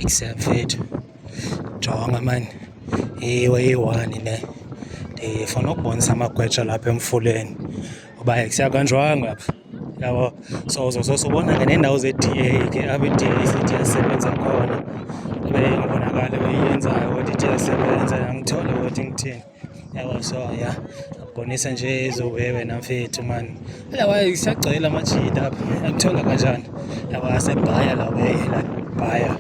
Except jonga mani ewe eyi-one le ndifuna ukubonisa amagwetsha lapha emfuleni uba kuyakanjwanga apha yabo so uzosose ubona ke neendawo ze-d a ke apho i-d a sithi yasebenza khona ibe ingabonakali uyiyenzayo kodwa ithi yasebenza yangithole kodwa ingithini yabo so ya abonisa nje ezowewe namfethu mani lawa isagcwele amajita apha akuthola kanjani lawa asebhaya lawe labhaya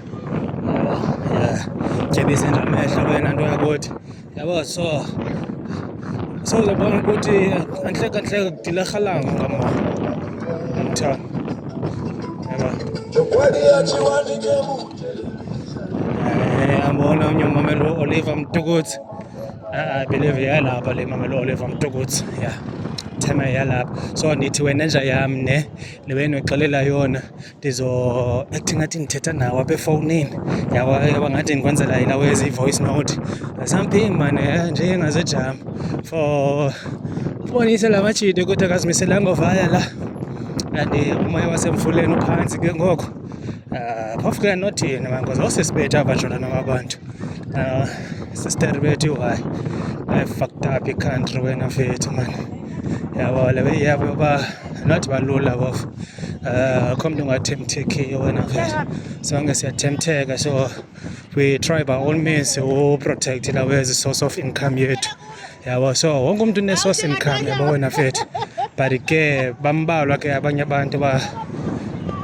yabo ya jebise nje amehlo wena nto yakuthi yabo so so uzobona ukuthi anhleka nhleka kudilarhalanga ngamona mthana yabo ambona eh, unye umamelo oliver mtukuthi believe yayilapha le mamelo oliva mtukutsi ya thema yalapha so ndithi wena nja yam ne le wena uxelela yona ndizo athi ngathi ndithetha nawo apha efowunini yaba ngathi ndikwenzela ilawo ezi-voice note something mane eh, nje engazejama for ubonise la majide ukuthi akazimiselanga ovaya la and umoya wasemfuleni uphantsi ke ngoko Ah, phofu ke nothini mangoze osisibethe abajona noma abantu ah, sister bethu why i fucked up i country wena mfethu man yabo le way yabo ba not balula bofu ah, akho mntu ungathemthekiyo wena mfethu sonke siyathemtheka so we try by all means uprotect lawe as a source of income yethu yabo so wonke umntu unesource income yabo wena fethu but ke bambalwa ke abanye abantu ba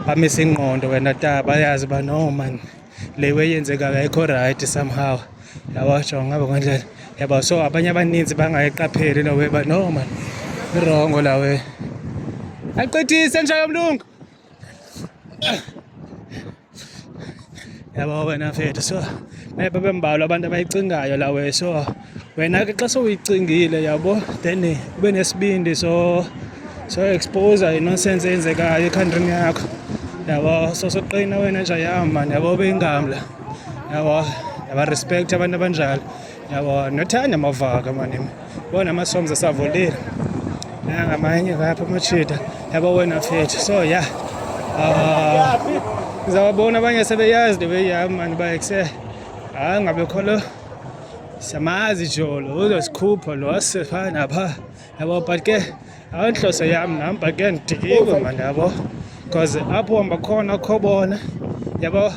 bamisa ingqondo wena ta bayazi uba no man le weyenzekayo ayikho rayithi somehow yabo jonga ngabo ngandlela yabo so abanye abaninzi bangayiqapheli lowe ba no man irongo lawe aqedise nja yomlungu yabo wena mfethu so babe mbalwa abantu abayicingayo lawe so wena ke xa sowuyicingile yabo then ube nesibindi so so expose inonsense eyenzekayo ekhantrini yakho yabo so soqina wena nje yahamba yabo beyingamla yabo yabarespect abantu abanjalo yabo nothanda amavaka manimi bona amasomza asavolile nangamanye kapha amachida yabo wena fethu so ya ah, ngizawabona abanye sebeyazi the way yam mani uba ekuse hayi ngabekho lo siyamazi jolo uzosikhupha lo asifana phaa yabo but ke Intlose yam nam but ke ndidikiwe mani yabo because apho hamba khona kho bona yabo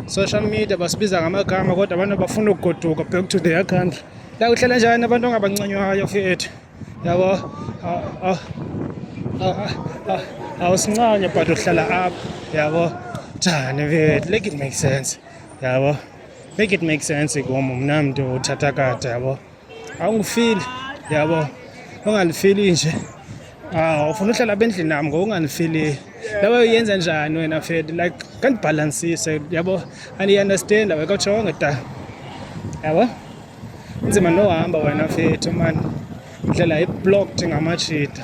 social media basibiza ngamagama kodwa abantu abafuna ukugoduka back to their country lakuhlala njani abantu ongabancanywayo fethu yabo awusincanye but uhlala apho yabo njani fethu make it make sense yabo make it make sense kum mna mntu uthatha kade yabo awungifili yabo ongangifili nje aw ufuna uhlala apha endlini nam ngoku ungangifili laba uyenza njani wena fed like kandibhalansise yabo andiyiunderstand awe kawutshonge da yabo nzima nohamba wena fethu mani ndlela iblocked ngamajita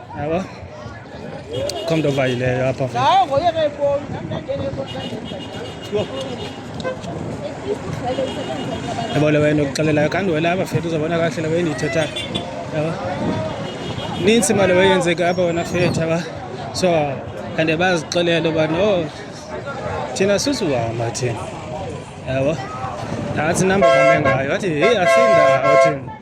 Hello. Come over here, Papa. Now, go here, Papa. yabona wena ukuxelelayo kanti wena apha fethu uzabona kahle laba endiyithethayo yaba nintsi imali weyenzeka apha wena fethu yaba so and bazixelele uba no oh, thina susuhamba thina yabo nantsi inamba bame ngayo wathi heyi asindawo thina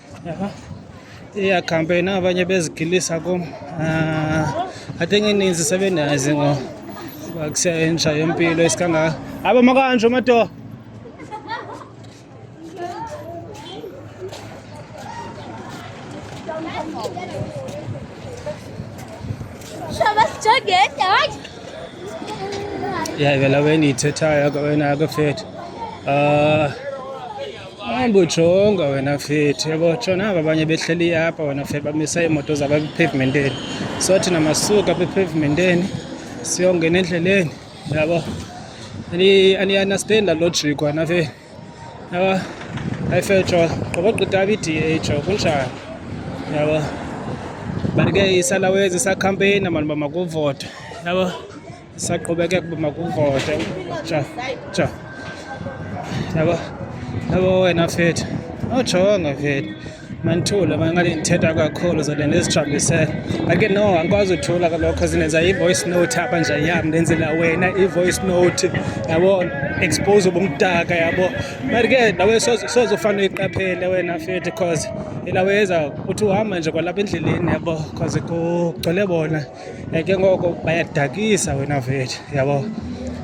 iya campaign abanye bezigilisa kum ah, i think ininzi sebendazi ngo kusentsha yempilo isikangaka aba makanjho madoda ya vela wena ithethayo wena akafethi um ah, Hayi bujonga wena fethi yabo tshona aba abanye behleli apha wena fe bamisa iimoto zabo epipavementeni so thina masuka apha epipavementeni siyongena endleleni yabo aniyanastenda logic wena fe yabo hayi fe tsho qobogqita apha i-da tsho kunjani yabo but ke isalawezi isakhampeyina mani uba makuvota yabo Saqhubeke kuba makuvote ja ja yabo yabo wena fethu ojonga fethu mandithule mangathi ndithetha kakhulu zobe ndizithambisele ake no andikwazi uthula kalokho zindenza i-voice note apha nje yam ndenzela wena i-voice note yabo expose ubumdaka yabo but ke nawe soze ufane uyiqaphele wena fethu because ilaweza uthi uhamba nje kwalapha endleleni yabo because kugcwele bona Eh, ke ngoko bayadakisa wena vethu yabo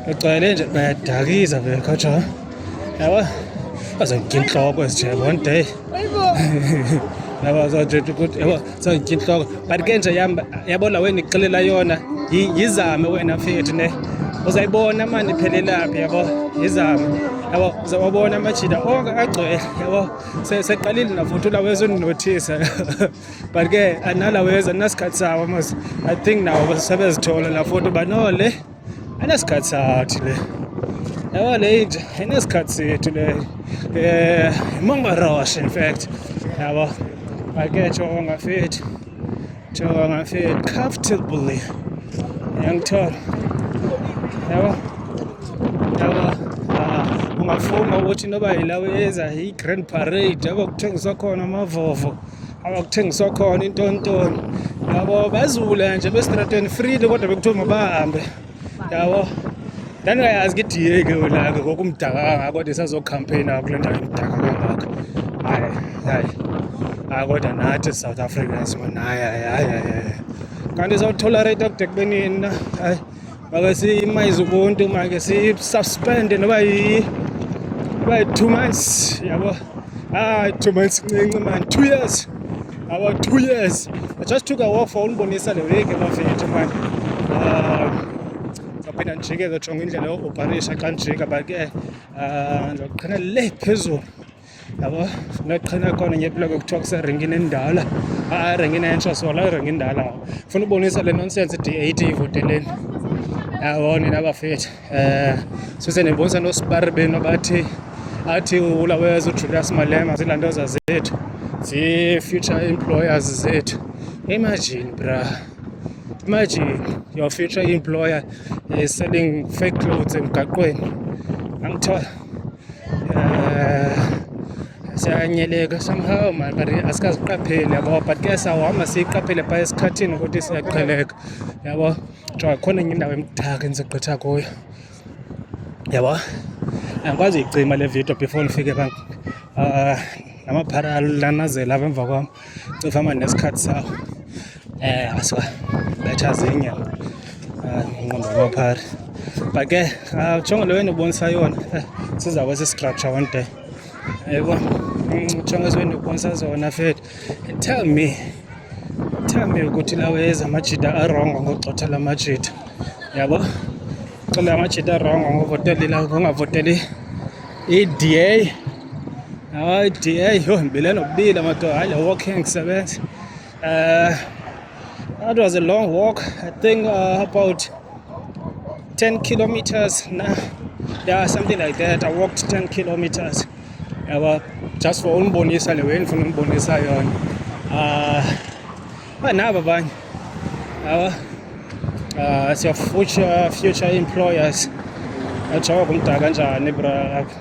ugcwele nje bayadakisa vele kodwa yabo bazokutya intloko ezinje one day yabo zothetha ukuthi yabo zokutya intloko but ke nje yabo la wena ixelela yona yizame wena fethu ne uzayibona mani iphelelaphi yabo yizame yabo uzawabona amajida onke agcwele yabo seqalile nafuthi ulawezo ndinothisa but ke analaweza nasikhathi sawo mos i think nawo basebezithola la foto but no le anesikhathi sathi le yabo le inje inesikhathi sethu le um eh, mongaroshe in fact yabo ake jonga fethi jonga fethi comfortably yangithola yabo yabo ah, ungafunga ukuthi noba yilawo eza yi-grand parade yabo kuthengiswa khona amavovo abakuthengiswa khona intontoni yabo bazule nje besitrateni freely kodwa bekuthiwa mabahambe yabo ndandingayazi ke idiye ke ulake ngoku umdaka kangako kodwa isazokhampeyina kule ndawo imdaka kangako hayi hayi hayi kodwa nathi south africans mona hayi hayi hayi kanti izawutolerate kude kubenini na hayi make siyima izikonti make siyisuspende noba noba yi-two months yabo hayi two months ncinci mani two years our two years i just took a walk for unibonisa le week emafethu mani ndizawuphinda ndijike ke jonga indlela yooparisha xa ndijika but ke ndizoqhina le phezulu yabo ngathi khona khona nje eploko kuthiwa kuserengini endala hayi erengini entsha so la erengi indala funa ubonisa le nonsense d eight ivoteleni yabo nina bafethu um eh, sise ndibonisa nosibari benu abathi athi ulaweza ujulius malema zilantoza zethu zii-future employers zethu imagine bra imagine your future employer is selling fake clothes emgaqweni angithola eh, siyanyeleka somehow man but asikaziqapheli yabo but ke sawuhamba siyiqaphele phaa esikhathini ukuthi siyaqheleka yabo jonga khona enye indawo emdaka endigqitha kuyo yabo andikwazi uyicima le video before ndifike phaa ah, namaphara lanazela apha emva kwam Cofa manje nesikhathi sawo. Eh aswa. Betha zinye. Ah, ngqondo kwaphari. But ke ah, jongo leyo enibonisa yona eh, siza kwesi structure one day. Yebo. Mm, jongo ezweni ubonisa zona fethu. Tell me. Tell me ukuthi lawe ezamajida arongo ngogxotha lamajida. Yabo? Xa le amajita rongo angavoteli la ngongavoteli i-DA hayi i-DA yho ndibile nobile madoda hayi le walking ndisebenza um that was a long walk i think uh, about 10 kilometers na yeah something like that i walked 10 kilometers yaba just for unibonisa le way ndifuna unibonisa yona um But now, Babang, our uh, as your future future employers, achawa kumdaka kanjani bra yakho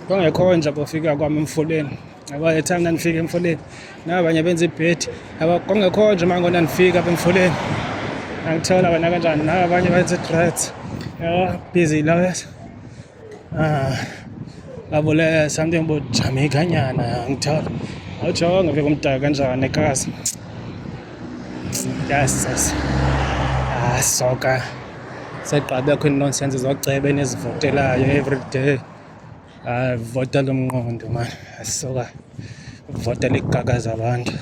kwangekho nje bofika kwami emfuleni yabo the time ndandifika emfuleni nabanye benza ibhedi yabo kwangekho nje mango ndandifika apha emfuleni angithola wena kanjani nabanye benza i-dreads yabo busy lawyers Ah, abule something about Jamaica nyana angithola. Awutsho ngabe kumdaka kanjani ekhasi. Yes, yes. Ah, soka. Segqabe akho nonsense zocebe nezivotelayo every day. Ah, vota lomnqondo man. Soka. Vota ligaka zabantu.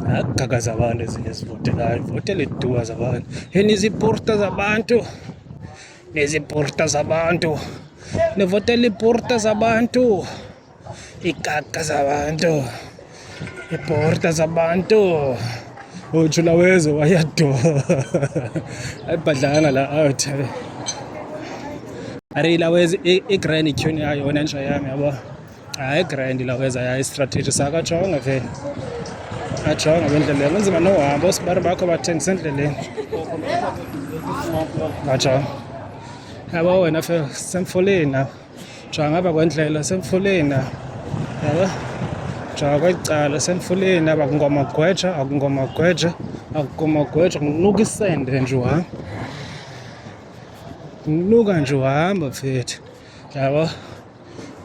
Agaka zabantu ezinye zivotelayo. Votele duwa zabantu. Heni ziporta zabantu. Nezi porta zabantu nivotela iporta zabantu ikaka zabantu iporta zabantu ujula weze wayado ayibhadlanga la out areyila weze i-grand tune yayo yona nje yami yabo hayi grand laweza yayi strategy sakajonga vele ajonga apha endleleni kunzima nohamba oosibari bakho bathengisa endleleni ajonga yabo wena fe semfuleni apha jonga apha kwendlela semfuleni apha yabo jonga kweli cala semfuleni apha kungomagweja akungomagweja akungomagweja kunuka isende nje uhamba kunuka nje uhamba mfethu yabo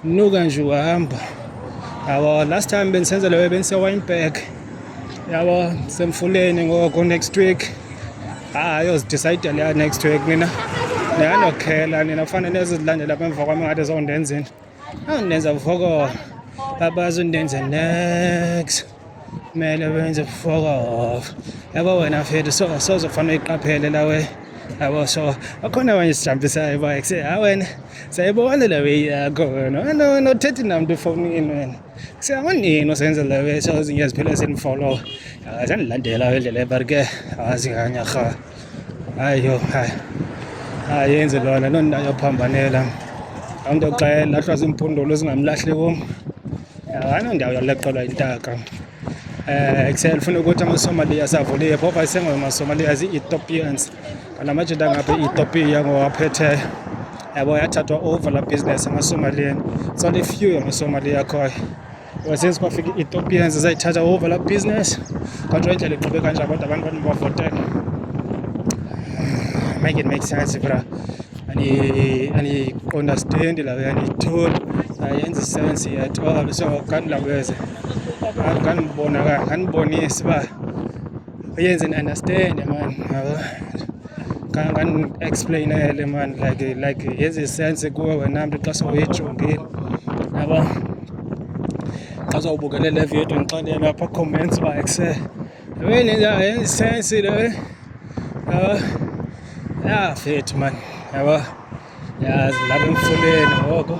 Nuka nje uhamba. Yabo last time bendisenza leyo bendise Wynberg. Yabo semfuleni ngoko next week. Ah, yoz decide leya next week mina. Ndiyanokhela nina kufanele nezizilandela apha emva kwami ngathi zondenza into. Andenza voko. Babazo ndenza next. kumele wenze fokof yabo wena mfethu so sozofanele uyiqaphele lawe yabo so akhona abanye sijambisayo uba kuse ha wena sayibona le way yakho wena wena wena uthethi namntu efowunini wena kuse awunini usenze le way so zinye ziphele sendifolowa zandilandela indlela ebarike azinganyarha ayo hayi ayenzi lona loo nto ayophambanela laa mntu xa elahlwa ziimpundulu zingamlahli kum ayinoo ndawo yaleqelwa intaka um kusele funa ukuthi amasomaliya savuliye phofa isengomasomaliya zii-ethiopians ngala majita ngapha i-ethiopia ngowaphetheyo yabo yathathwa over laa business emasomaliyeni so lifew yamasomaliyakhoyo Since kwafika i-Ethiopians zayithatha over la business kwanjwa indlela eqhube kanjani kodwa abantu bathi bavotela make it make sense bra andiqondastendi lawo yanditholi ayenza isense at all so ngandilaweze ngandibonaka ngandibonisi uba uyenze ni understand man yabo kangani explainele man like like yenze sense kuwe wena mntu xa sowuyijongile yabo xa sowubukele le video ndixelele apha comments uba ekse yabeni yenze sense le yabo ya fethu man yabo yazi lapha emfuleni ngoko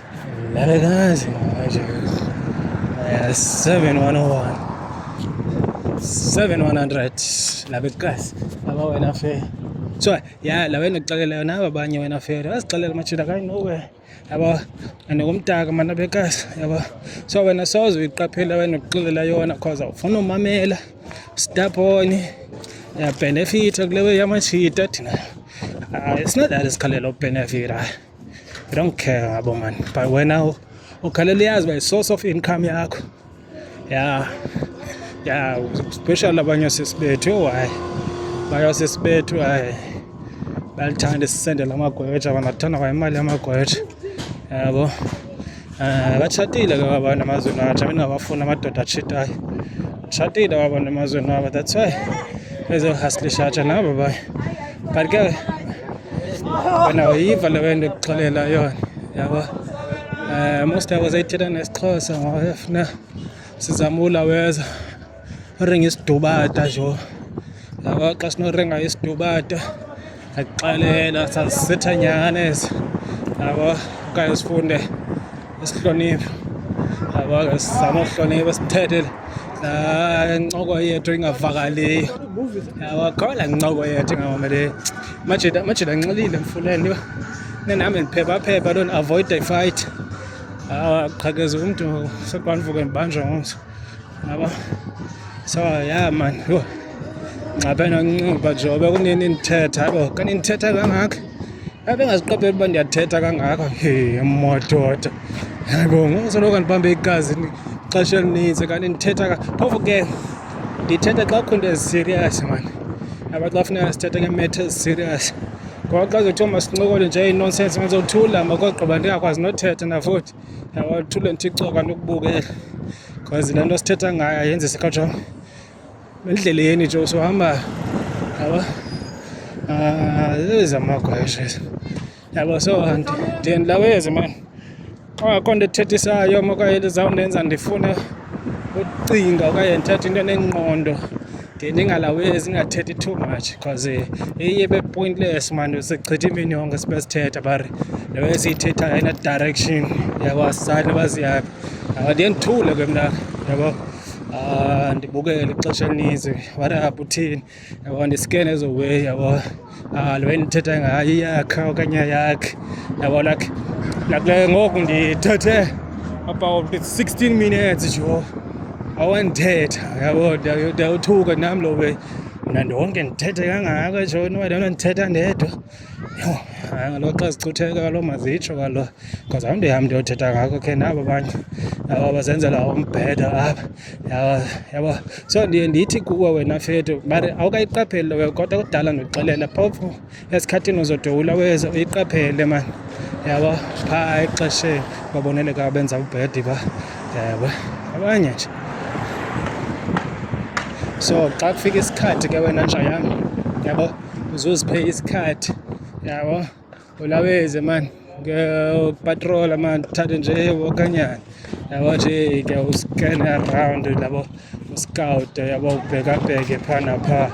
labekas aba wena fela so ya la wena kuxelela yona aba banye wena fela bazixelela machida kayinowe yabo and kumtaka mna bekas yabo so wena soze uyiqaphela wena ukuxelela yona cause awufuna umamela staponi ya benefit kule we yamachita thina it's not that isikhalela ubenefit hayi I don't care ngabo man but wena ukhalela yazi by source of income yakho ya ya special abanye sisi bethu yho hayi bayo sisi bethu hayi balithanda sisendela amagwetsha banathanda kwa imali yamagwetsha yabo Eh, batshatile ke abantu emazweni wabo thina ndingabafuni amadoda atshitayo tshatile abantu emazweni wabo that's why bezohaslishatsha nabo baye but ke wena uyiva le wento ekuxelela yona yabo um most yabo zayithetha nesixhosa ngoba funa sizamula weza orenga isidubata jo yaba xa sinorenga isidubata akuxelela sazisitha nyhana ezi yabo okanye sifunde isihlonipho yabo ke sizama uhlonipha sithethe laa ncoko yethu ingavakaliyo yabo kho laa ncoko yethu ingavakaliyo majida majida nxilile mfuleni uba nendihambe ndiphephaphepha loo ndiavoida ifayithi qhakeza umntu sekwandivuke ndibanjwa ngomso Yabo. So yeah man. Yho. Nxaphe noncuba jobe kunini nithetha yabo. Kanti nithetha kangaka. Yabe ngaziqaphela uba ndiyathetha kangaka. Hey, madoda. Yabo, ngosoloko ndibambe igazi ixesha elininzi kanti ndithetha phofu ke ndithetha xa kukho into eziserious man aba xa funeka sithethe ngemetha eziserious ngoba xa zothiwa masincokole nje inonsense mazothula makogqiba ndingakwazi nothetha nafuthi Yabo thule nthicoka nokubukela. Cause lento sithetha ngayo ayenze sikhatsha. Endleleni nje usuhamba. Yabo. Ah, ezamagwesha. Yabo so and then lawezi man. Ongakho nto ethethisayo makaye lizawundenza ndifune ucinga okanye ndithathe into enengqondo ndiye ndingalawi ezingathethi too much because eh, iye bepointless mani sichitha imini yonke sibe sithetha bari leyo esiyithetha ayina direction yakwasani baziyaphi ndiye ndithule ke mna yabo ah, ndibukele ixesha elininzi whatever uthini yabo ndiskene ezo way yabo Ah, le ndithetha ngayo iyakhe okanye yakhe yabona ke nakule ngoku ndithethe about 16 minutes jo awandithetha yabo ndiyawuthuka nam lo we mna ndonke ndithethe kangaka jo niwalona ndithetha ndedwa yho hayi ngalo xa zicutheka kalo mazitsho kalo because awundihambi ndiyothetha ngako khe nabo abanye aba bazenzela umbheda apha yabo so ndiye ndithi kuwe wena fethu but awukayiqapheli lowe kodwa kudala ndikuxelela phofu esikhathini uzodowula weze uyiqaphele mani yabo phaa exesheni baboneleka abenza ubhedi ba yabo abanye nje so xa kufika isikhathi ke wena nja yam yabo uzuziphe isikhathi yabo ulaweze mani upatrola mani uthathe nje okanyana yabo nje ke uscan around labo uscout yabo ubhekabheke phaa naphaa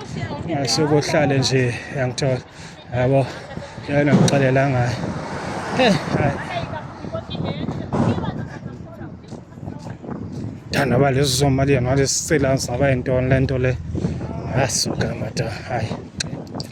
ngasuke uhlale nje yangithola yabo yona ngixelela ngayo hey hayi thanda ba lezi zomali yona lesicela zaba yintoni le nto le asuka mada hayi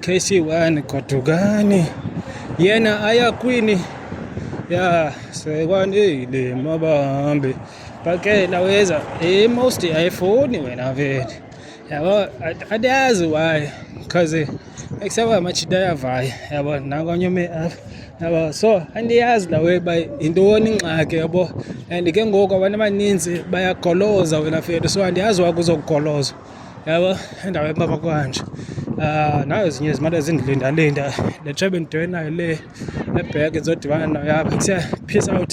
Kesi wani kwa tugani yena aya kwini ya sekwani le mabambe pake laweza e most iPhone wena vele yabo adazi why cause ekusaba machida yavaya yabo nakonyome apha yabo so andiyazi lawe ba yintoni ingxaki yabo and ke ngoku abantu abaninzi bayagoloza wena fethu so andiyazi wakuzokugolozwa yabo endaweni baba kwanje um nayo zinye zimane zindilindalinda le tshebe ndidewe nayo le ebheke ndizodibana nayo apha kuthiwa peace out